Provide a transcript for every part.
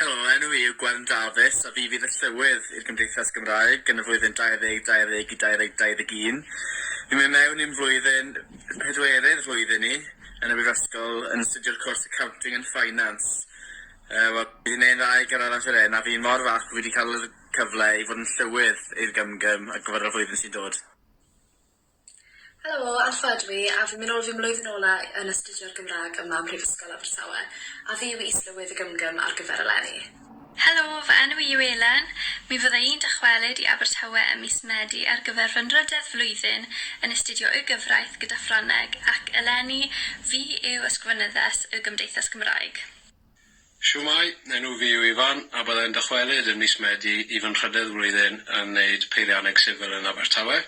Helo, enw i yw Gwern Dafis a fi fydd y Llywydd i'r Gymdeithas Gymraeg yn y flwyddyn 2020 i 2021. Fi'n mynd mewn i'n flwyddyn pedwerydd flwyddyn i yn y Brifysgol yn astudio'r cwrs Accounting and Finance. Uh, Wel, fi wedi gwneud dda i gyrraedd at yr hyn a fi mor falch bod fi wedi cael y cyfle i fod yn Llywydd i'r Gymgym ar gyfer y flwyddyn sy'n dod. Helo, Alffa ydw i a fi'n mynd nôl fy mlwyddyn ola' yn astudio'r Gymrâg yma ym Mhrifysgol Abertawe a fi yw Is-lywydd y Gymgym ar gyfer eleni. Helo, fy enw i yw Elen. Mi fydda i'n dychwelyd i Abertawe ym mis Medi ar gyfer fy nrydedd flwyddyn yn astudio Y Gyfraith gyda Ffrangeg ac eleni fi yw Ysgrifenyddes Y Gymdeithas Gymraeg. Shwmae, enw fi yw Ifan a bydda i'n dychwelyd yn mis Medi i fy nhrydedd flwyddyn yn wneud peirianneg sifil yn Abertawe.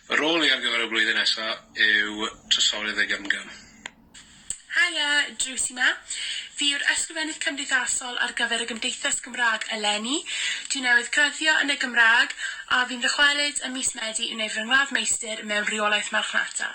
Fy rôl i ar gyfer y flwyddyn nesa yw Trysorydd y Gymgym. Haia, Drws yma. Fi yw'r Ysgrifennydd Cymdeithasol ar gyfer y Gymdeithas Gymraeg eleni. Dwi newydd graddio yn y Gymraeg a fi'n ddychwelyd ym mis Medi i wneud fy ngradd meistr mewn Rheolaeth Marchnata.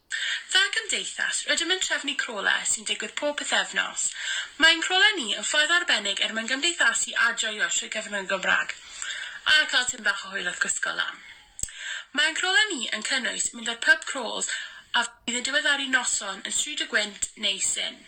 Fel Cymdeithas, rydym yn trefnu crawler sy'n digwydd pob pythefnos. Mae ein crawler ni yn ffordd arbennig er mwyn gymdeithasu a joio trwy gyfrwng y Gymraeg, a cael tym bach o hwyl wrth gysgo lan. Mae ein crawler ni yn cynnwys mynd ar pub crawls a fydd yn diweddaru noson yn Stryd y Gwynt neu Sin.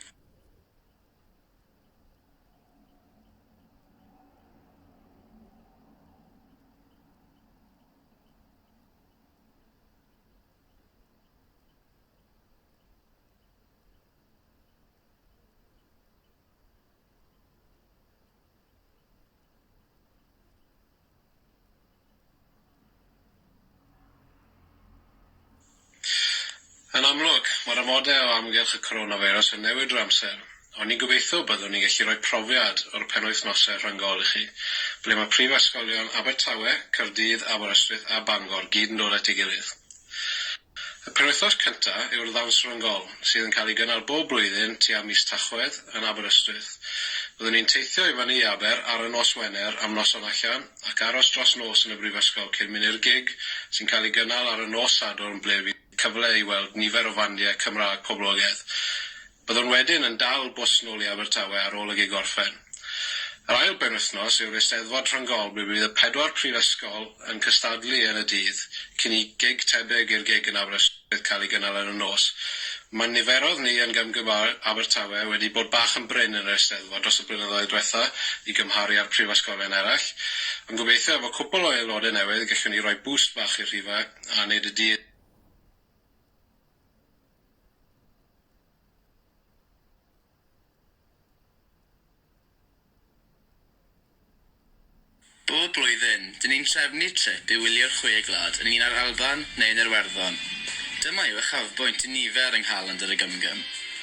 Yn amlwg, mae'r amodau o amgylch y coronafeirws yn newid drwy amser, O'n i'n gobeithio byddwn ni'n gallu rhoi profiad o'r penwythnosau rhyngol i chi, ble mae prifysgolion Abertawe, Caerdydd, Aberystwyth a Bangor gyd yn dod at ei gilydd. Y penwythnos cyntaf yw'r ddawns ryngol, sydd yn cael ei gynnal bob blwyddyn tua mis Tachwedd yn Aberystwyth. Byddwn ni'n teithio i fyny i Aber ar y nos Wener am noson allan ac aros dros nos yn y brifysgol cyn mynd i'r gig sy'n cael ei gynnal ar y nos Sadwrn ble fydd cyfle i weld nifer o fandiau Cymraeg poblogaidd. Byddwn wedyn yn dal bws nôl i Abertawe ar ôl y gig orffen. Yr ail benwythnos yw'r Eisteddfod Rhyngol ble bydd y pedwar prifysgol yn cystadlu yn y dydd cyn i gig tebyg i'r gig yn Aberystwyth cael ei gynnal yn y nos. Mae niferoedd ni yn Gymgymar Abertawe wedi bod bach yn brin yn yr Eisteddfod dros y blynyddoedd diwetha' i gymharu â'r prifysgolion eraill ond gobeithio efo cwpwl o aelodau newydd gellwn ni roi bŵst bach i'r rhifau. a nid ydy Bob blwyddyn, dyn ni'n trefnu trip i wylio'r Chwe Gwlad yn un â'r Alban neu yn Iwerddon. Dyma yw uchafbwynt i nifer yng Nghalendr y Gymgym.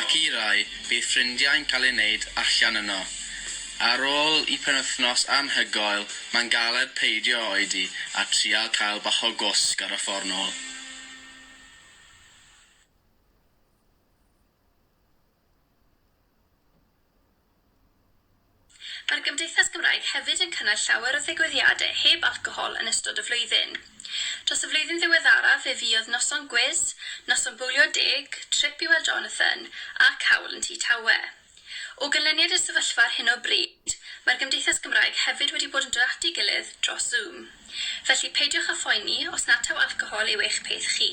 Ac i rai, bydd ffrindiau'n cael eu wneud allan yno. Ar ôl i penwythnos anhygoel, mae'n galed peidio oedi a trial cael bach o gwsg ar y ffordd nôl. Mae'r Gymdeithas Gymraeg hefyd yn cynnal llawer o ddigwyddiadau heb alcohol yn ystod y flwyddyn. Dros y flwyddyn ddiweddaraf fe fuodd noson gwis, noson bowlio deg, trip i weld Jonathan, a cawl yn Tŷ Tawe. O ganlyniad i'r sefyllfa ar hyn o bryd, mae'r Gymdeithas Gymraeg hefyd wedi bod yn dod at ei gilydd dros Zoom. Felly, peidiwch â phoeni os nad taw alcohol yw eich peth chi.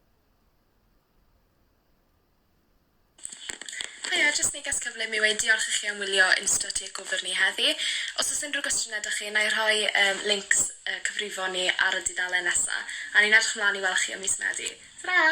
Haia, jyst neges cyflym yw e i diolch i chi am wylio Insta Takeover ni heddi. Os oes unrhyw gwestiynau 'da chi, na i rhoi yym links yy cyfrifon ni ar y dudalen nesa, a ni'n edrych mlan i weld chi ym mis Medi. Tara!